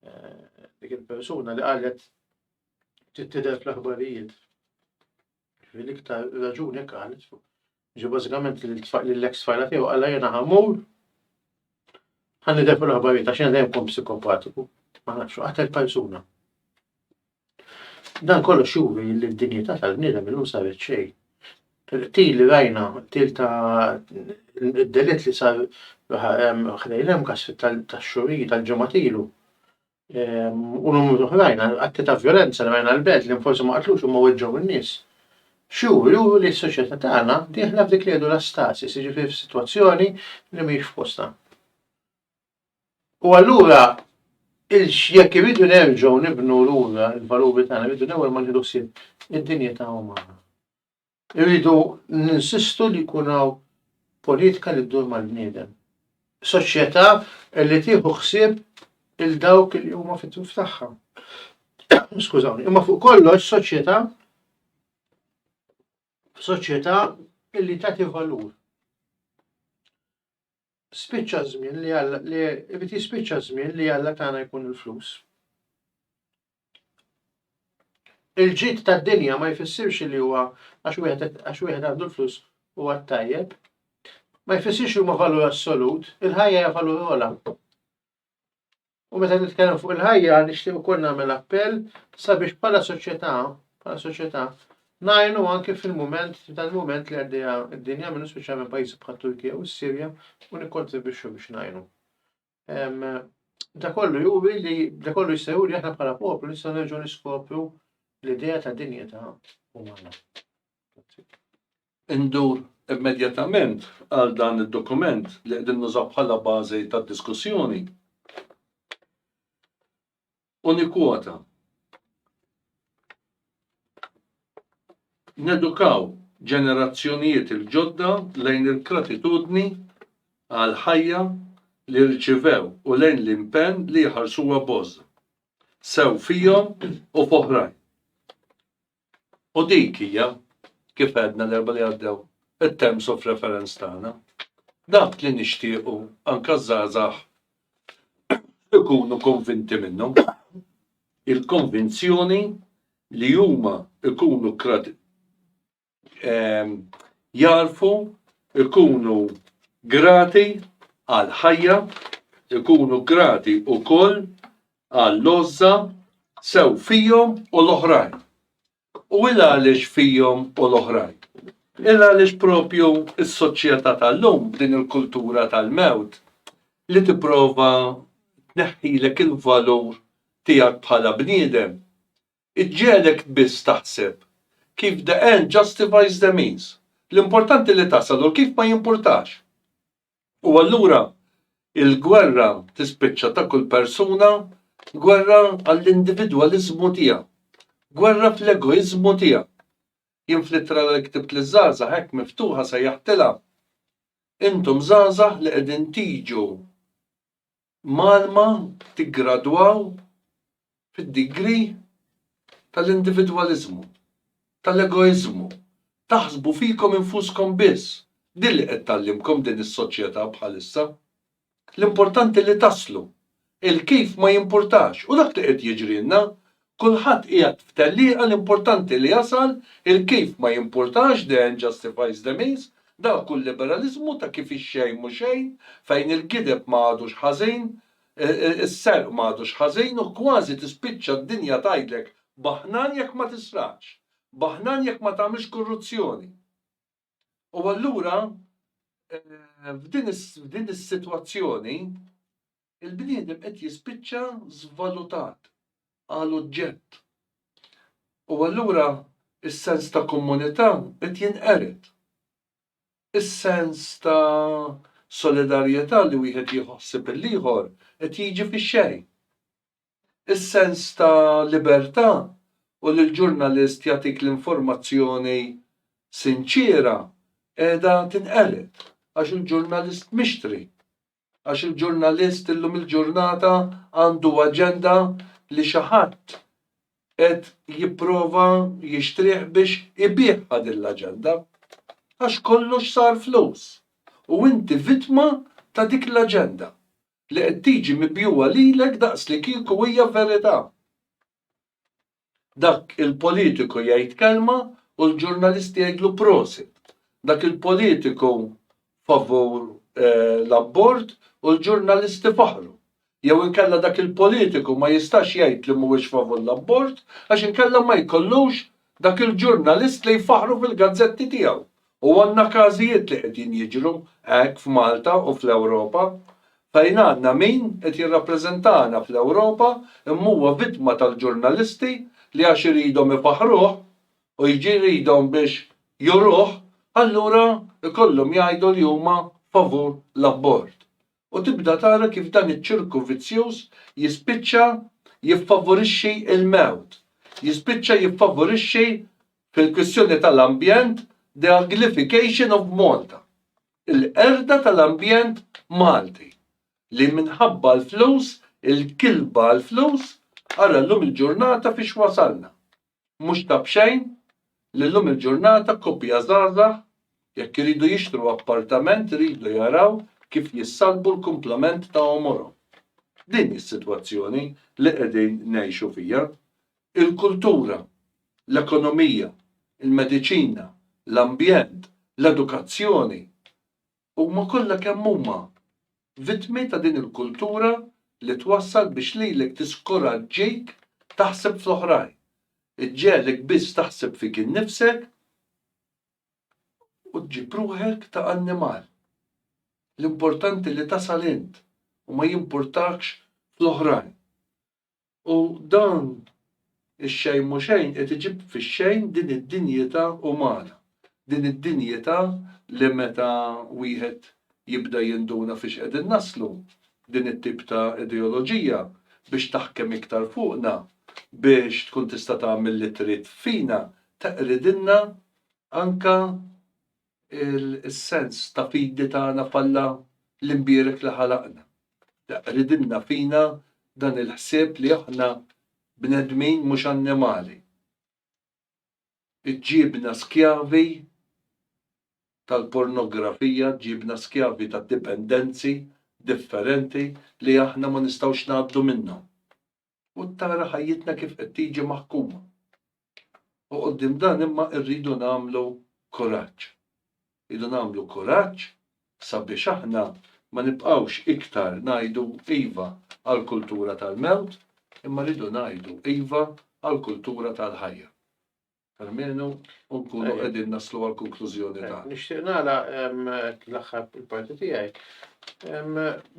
eh, dik il-persuna li qalet tidher fl-aħbarijiet. Fil-iktar raġuni qalet ġi bażikament li l-ex tfajla tiegħu qala jiena ħamur ħan nidher fl-aħbarijiet għax jiena dejjem kum psikopatiku. Ma nafx qatel persuna. Dan kollox juri li d-dinjità tal-bniedem illum saret xejn. Il-qtil li rajna, qtil ta' id-delitt li sar ħdejn l-MCAS tax-xhur ilu, tal-ġimgħat ilu, u numru oħrajn, atti ta' vjolenza li rajna l-belt li forsi ma qatlux imma weġġgħu n-nies, x'juri, juri li s-soċjetà tagħna dieħla f'dik li jgħidu l-astasis, jiġifieri f'sitwazzjoni li mhijiex f'postha. U allura jekk irridu nerġgħu nibnu lura l-valuri tagħna rridu l-ewwel ma nieħdu ħsieb id-dinjità umana. Irridu ninsistu li jkun hawn politika li ddur mal-bniedem. Soċjetà li tieħu ħsieb il dawk li huma fit-tuf tagħha. Skużawni, imma fuq kollox soċjetà soċjetà li tagħti valur. spiċċa żmien li Alla li irid jispiċċa żmien li Alla tagħna jkun il-flus. Il-ġid tad-dinja ma jfissirx li huwa għax wieħed għandu l-flus u għat-tajjeb. Ma jfissirx li huma valur assolut, il-ħajja hija valur ola. U meta nitkellem fuq il-ħajja nixtieq ukoll nagħmel appell sabiex bħala soċjetà, bħala soċjetà, ngħinu anke fil-mument, f'dan il-mument li għaddejja d-dinja minnu speċjalment pajjiżi bħal Turkija u s-Sirja u nikkontribwixxu biex ngħinu. Da kollu juri li da kollu jista' juri aħna bħala poplu nistgħu nerġgħu niskopru l-idea ta' dinjità umana. Indur immedjatament għal dan id-dokument li qegħdin nużaw bħala bażi tad-diskussjoni u nikkwota, Nedukaw ġenerazzjonijiet il-ġodda lejn il-gratitudni għall-ħajja li rċivew u lejn l-impenn li jħarsuha b'għożża sew fihom u f'oħrajn. U dik hija, kif għedna l-Erbgħa li għaddew, it-terms of reference tagħna. Dak li nixtiequ anke ż-żgħażagħ ikunu konvinti minnu. Il-konvinzjoni li huma jkunu ehm, jarfu, ikunu grati għall-ħajja, ikunu grati wkoll għall-għożża sew fihom u l-oħrajn. U il għaliex fihom u l-oħrajn? Il għaliex propju s-soċjetà tal-lum b'din il-kultura tal-mewt li tipprova tneħħilek il-valur tiegħek bħala bniedem, iġġegħlek biss taħseb kif the end justifies the means, l-importanti li tasal u l-kif ma jimpurtax. U allura il-gwerra tispiċċa ta' kull persuna gwerra għall-individwaliżmu tiegħu. Gwerra fl-egoiżmu tiegħu. Jien fl-ittra li ktibt liż-żgħażagħ hekk miftuħa sejjaħtilha, Intom żgħażagħ li qegħdin tiġu Malma tiggradwaw fid-degree tal-individwaliżmu, tal-egoiżmu, taħsbu fikom infuskom biss. Din li qed tgħallimkom din is-soċjetà bħalissa. L-importanti li taslu. Il-kif ma jimpurtax u dak li qed jiġrilna Kulħadd qiegħed f'tellieqa l-importanti li jasal il-kif ma jimpurtax the end justifies the means, dak hu l-liberaliżmu ta' kif ix-xejn mhu xejn, fejn il-gideb ma għadux ħażin, is-serq ma għadux ħażin u kważi tispiċċa d-dinja tgħidlek baħnan jekk ma tisraqx, baħnan jekk ma tagħmilx kurruzzjoni. U allura f'din is-sitwazzjoni, il-bniedem qed jispiċċa żvalutat għal oġġett. U allura s-sens ta' kommunità qed jinqered. Is-sens ta' solidarjetà li wieħed jieħu ħsieb il-ieħor qed jiġi fix-xejn. Is-sens ta' libertà u li l-ġurnalist jagħtik l-informazzjoni sinċiera qiegħda tinqered għax hu ġurnalist mixtri. għax il-ġurnalist illum il-ġurnata għandu aġenda li xi ħadd qed jipprova jixtrih biex ibiegħha din l-aġenda. Għax kollox sar flus u inti vittma ta' dik l-aġenda li qed tiġi mibjugħa lilek daqslikieku hija verità. Dak il-politiku jgħid kelma u l-ġurnalist jgħidlu prosit. Dak il-politiku favur l-abort u l-ġurnalist ifaħħru. Jew inkella dak il-politiku ma jistax jgħid li mhuwiex favur l-abort għax inkella ma jkollux dak il-ġurnalist li jfaħħru fil-gazzetti tiegħu U għandna każijiet li qegħdin jiġru hekk f'Malta u fl-Ewropa, fejn għandna min qed jirrappreżentana fl-Ewropa imma huwa vittma tal-ġurnalisti li għax iridhom ifaħħruh u jridhom biex juruh allura jkollhom jgħidu li huma favur l-abort. u tibda tara kif dan iċ-ċirku vizzjuż jispiċċa jiffavorixxi l-mewt, jispiċċa jiffavorixxi, fil-kwistjoni tal-ambjent, the uglification of Malta, il-qerda tal-ambjent Malti, li minħabba l-flus, il-kilba għall-flus, ara llum il-ġurnata fiex wasalna. Mhux ta' b'xejn li llum il-ġurnata koppja żgħażagħ jekk iridu jixtru appartament iridu jaraw kif jissalbu l-kumplament ta' għomorhom. Din hi s-sitwazzjoni li qegħdin ngħixu fiha. Il-kultura, l-ekonomija, il-mediċina, l-ambjent, l-edukazzjoni, Huma kollha kemm huma vittmi ta' din il-kultura li twassal biex lilek tiskoraġġik taħseb fl-oħrajn, iġġegħlek biss taħseb fik innifsek u ġġib ruħek ta' annimal. L-importanti li tasal int u ma jimpurtakx fl-oħrajn. U dan ix-xejn mhu xejn qed iġib fix-xejn din id-dinjità umana, din id-dinjità li meta wieħed jibda jinduna fiex qegħdin naslu, din it-tip ta' ideoloġija biex taħkem iktar fuqna, biex tkun tista' tagħmel li trid fina, teqridilna anke is-sens ta' fidi tagħna f'Alla l-imbierek li ħalaqna. Ridilna fina dan il-ħsieb li aħna bnedmin mhux annimali. Iġġiebna skjavi tal-pornografija, ġġiebna skjavi ta' dipendenzi differenti li aħna ma nistgħux ngħaddu minnhom. u tara ħajjitna kif qed tiġi maħkuma. U quddiem dan imma rridu nagħmlu kuraġġ. Rridu nagħmlu kuraġġ sabiex aħna ma nibqgħux iktar ngħidu iva għall-kultura tal-mewt, imma rridu ngħidu iva għall-kultura tal-ħajja. Almenu nkunu qegħdin naslu għal konklużjoni ta'. Nixtieq nara l-aħħar il-parti tiegħi.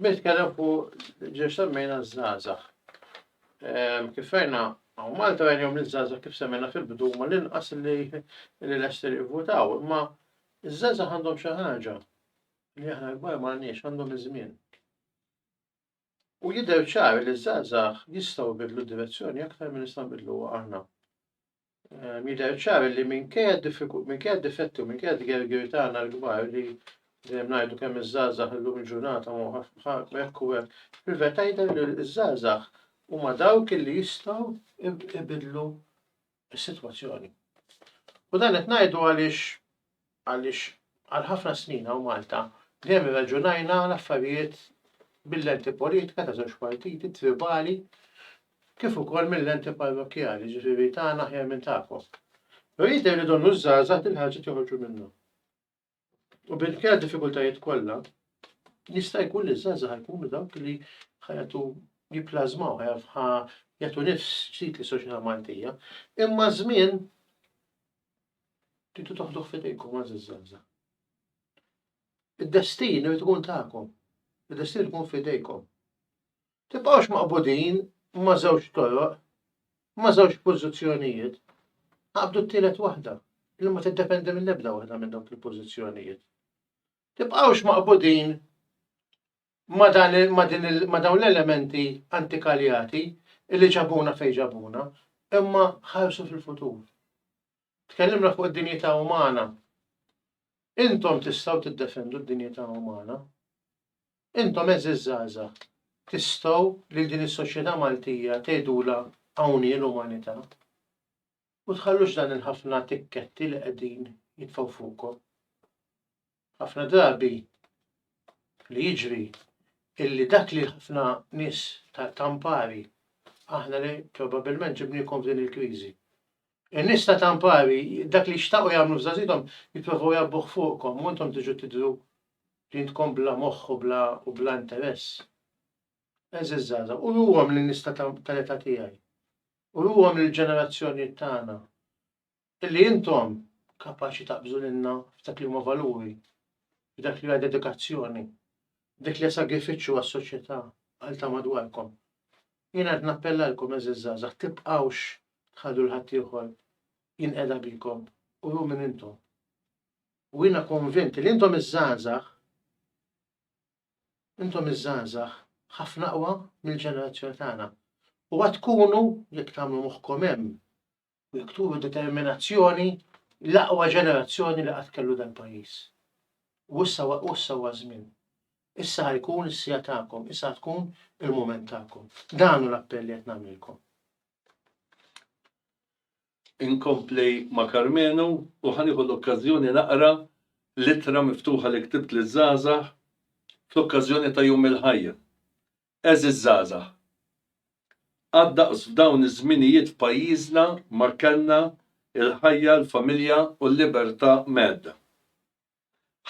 Nitkellem fuq ġiex semmejna żgħażagħ. Kif fejna u Malta għenjom l-żgħażagħ kif semmejna fil-bidu ma l-inqas li l-ester jivvutaw, imma ż-żgħażagħ għandhom xi ħaġa li aħna l-kbar m'għandniex għandhom iż-żmien. U jidher ċar li ż-żgħażagħ jistgħu jbiddlu d-direzzjoni aktar minn nistgħu nbiddluha aħna. Ehm, jidher ċar li minkejja d-difetti u minkejja d-gergir tagħna l-kbar li dejjem ngħidu kemm iż-żgħażagħ illum il-ġurnata ma hekk u hekk, fil-verità jidher li ż-żgħażagħ huma dawk li jistgħu jbiddlu is-sitwazzjoni. U dan qed ngħidu għaliex għaliex għal ħafna snin hawn Malta dejjem irraġunajna l-affarijiet bil-lenti politika ta' żewġ partiti tribali kif ukoll mill-lenti parrokkjali, ġifieri tagħna aħjar minn tagħkom. Rrid irridu nużżażat il-ħaġa joħorġu minnu. U bil-kja diffikultajiet kollha, jista' jkun li żgħażagħ jkunu dawk li ħajatu jiplażmaw, ħa jagħtu nifs ġdid li soċjetà Maltija. Imma żmien titu toħduh fidejkom għażiż żgħażagħ. Id-destin irid ikun tagħkom. Id-destin ikun fidejkom. Tibqgħux maqbudin ma' żewġ toroq, ma' żewġ pożizzjonijiet. Aqbdu t-tielet waħda, li ma tiddependi mill-ebda waħda minn dawk il-pożizzjonijiet. Tibqgħux maqbudin ma' dan il- ma' din il- ma' dawn l-elementi antikaljati li ġabuna fejn ġabuna, imma ħarsu fil-futur. Tkellimna fuq id-dinjità umana. Intom tistgħu tiddefendu d-dinjità umana. Intom eżiż żgħażagħ, tistgħu lil din is-soċjetà Maltija tgħidulha hawn hi l-umanità. U tħallux dan il-ħafna tikketti li qegħdin jitfgħu fuqkom. Ħafna drabi li jiġri illi dak li ħafna nies ta' Campari, aħna li probabilment ġibniekom f'din il-kriżi. In-nies ta' Campari, dak li xtaqu jagħmlu f'żagħżithom, jipprovaw jgħabbuh fuqkom u intom tiġu tidhru li intkom bla moħħ u bla u bla interess. Eżiż żgħażagħ, uruhom lin-nies tal-età tiegħi. Uruhom lill-ġenerazzjonijiet tagħna Illi intom kapaċi taqbżu lilna f'dak li huma valuri, f'dak li hija dedikazzjoni, f'dak li hija sagrifiċċju għas-soċjetà, għal ta' madwarkom. Jiena qed nappellalkom, għeżież żgħażagħ, tibqgħux tħallu 'l ħaddieħor jinqeda bikom, uru min intom. U jiena konvint li intom iż-żgħażagħ, intom iż-żgħażagħ ħafna aqwa mill-ġenerazzjoni tagħna. U għad tkunu, jekk tagħmlu moħħkom hemm, u jekk turu determinazzjoni l-aqwa ġenerazzjoni li qatt kellu dal-pajjiż. U issa u issa huwa żmien. Issa ħa jkun is-sija tagħkom, issa tkun il-mument tagħkom. Dan hu l-appell li qed nagħmlilkom. Inkompli ma' Karmenu u ħa nieħu l-okkażjoni naqra l-ittra miftuħa li ktibt liż-żgħażagħ fl-okkażjoni ta' Jum il-Ħajja. Għeżież żgħażagħ, qatt daqs f'dawn iż-żminijiet f'pajjiżna ma kellna l-ħajja, l-familja u l-libertà mhedda.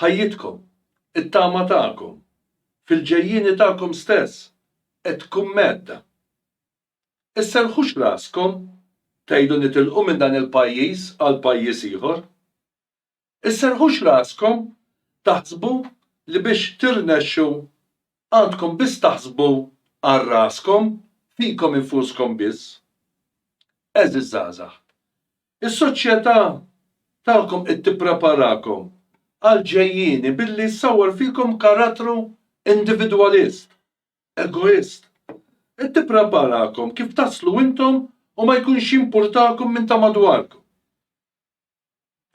Ħajjitkom, it-tama tagħkom, fil-ġejjieni tagħkom stess qed tkun mhedda. Isserrħux raskom tgħidu nitilqu minn dan il-pajjiż għal pajjiż ieħor. Isserrħux raskom taħsbu li biex tirnexxu għandkom biss taħsbu għal raskom, fikom infuskom biss. Għeżież żgħażagħ, is-soċjetà tagħkom qed tippreparakom għall-ġejjieni billi ssawwar fikom karattru individwalist, egoist. Qed tippreparakom kif taslu intom u ma jkunx jimpurtakom minn ta' madwarkom.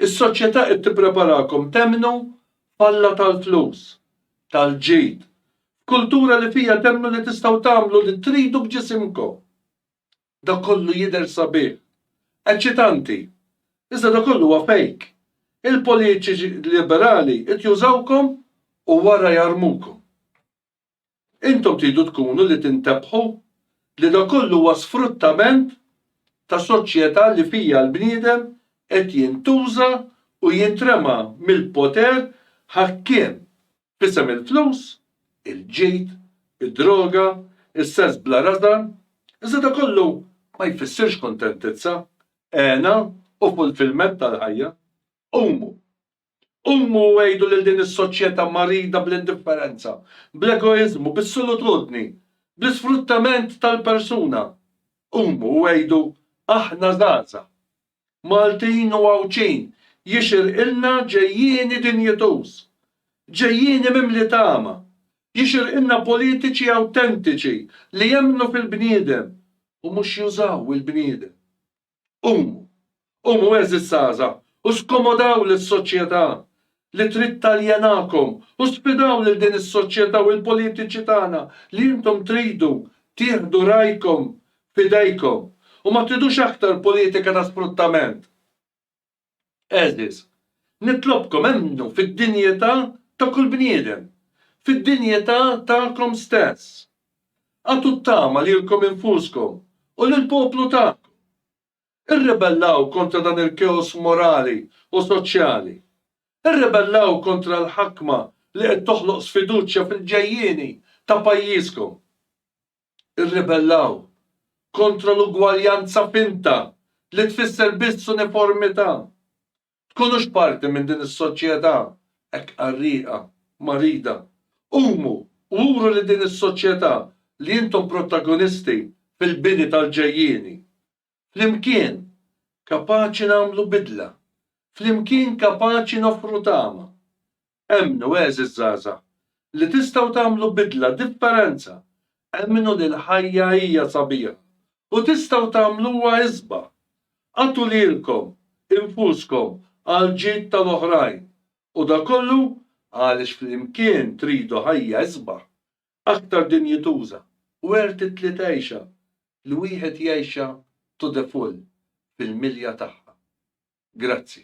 Is-soċjetà qed tippreparakom temmnu f'Alla tal-flus, tal-ġid, f'kultura li fiha temmnu li tistgħu tagħmlu li tridu b'ġisimkom. Dak kollu jidher sabiħ, eċċitanti, iżda dak kollu huwa fejk. Il-politiċi liberali qed jużawkom u wara jarmukom. Intom tridu tkunu li tintebbħu li dan kollu huwa sfruttament ta' soċjetà li fiha l-bniedem qed jintuża u jintrema mill-poter ħakkiem f'isem il-flus, il-ġid, id-droga, is-sess bla rażan, iżda dan kollu ma jfissirx kuntentizza, hena u fulfillment tal-ħajja. Qumu, Qumu u għidu lil din is-soċjetà marida bl-indifferenza, bl-egoiżmu, bis-solutudni, bl-isfruttament tal-persuna. Qumu u għidu, Aħna żgħażagħ. Maltin u Għawdxin, jixirqilna ġejjieni dinjituż. Ġejjieni mimli tama. Jixirqilna politiċi awtentiċi li jemmnu fil-bniedem u mhux jużaw il-bniedem. Qumu, qumu għeżież żgħażagħ u skomodaw lis-soċjetà li trid taljenakom u sfidaw lil din is-soċjetà u l-politiċi tagħna li intom tridu tieħdu rajkom f'idejkom u ma tridux aktar politika ta' sfruttament. Għeżież, nitlobkom emmnu fid-dinjità ta' kull bniedem, fid-dinjità tagħkom stess. Agħtu t-tama lilkom infuskom u lill-poplu tagħkom. Irribellaw kontra dan il-keos morali u soċjali. Irribellaw kontra l-ħakma li qed toħloq sfiduċja fil-ġejjieni ta' pajjiżkom. irribellaw kontra l-ugwaljanza finta li tfisser biss uniformità. Tkunux parti minn din is-soċjetà hekk qarrieqa, marida. Qumu u uru li din is-soċjetà li intom protagonisti fil-bini tal-ġejjieni. Flimkien kapaċi nagħmlu bidla. Flimkien kapaċi noffru tama. Emmnu, għeżież żgħażagħ, li tistgħu tagħmlu bidla, differenza. Emmnu li l-ħajja hija sabiħa u tistgħu tagħmluha isbaħ. Agħtu lilkom infuskom għall-ġid tal-oħrajn, u dan kollu għaliex flimkien tridu ħajja isbaħ, aktar dinjituża, worth it li tgħixha, li wieħed jgħixha to the full, fil-milja tagħha. Grazzi.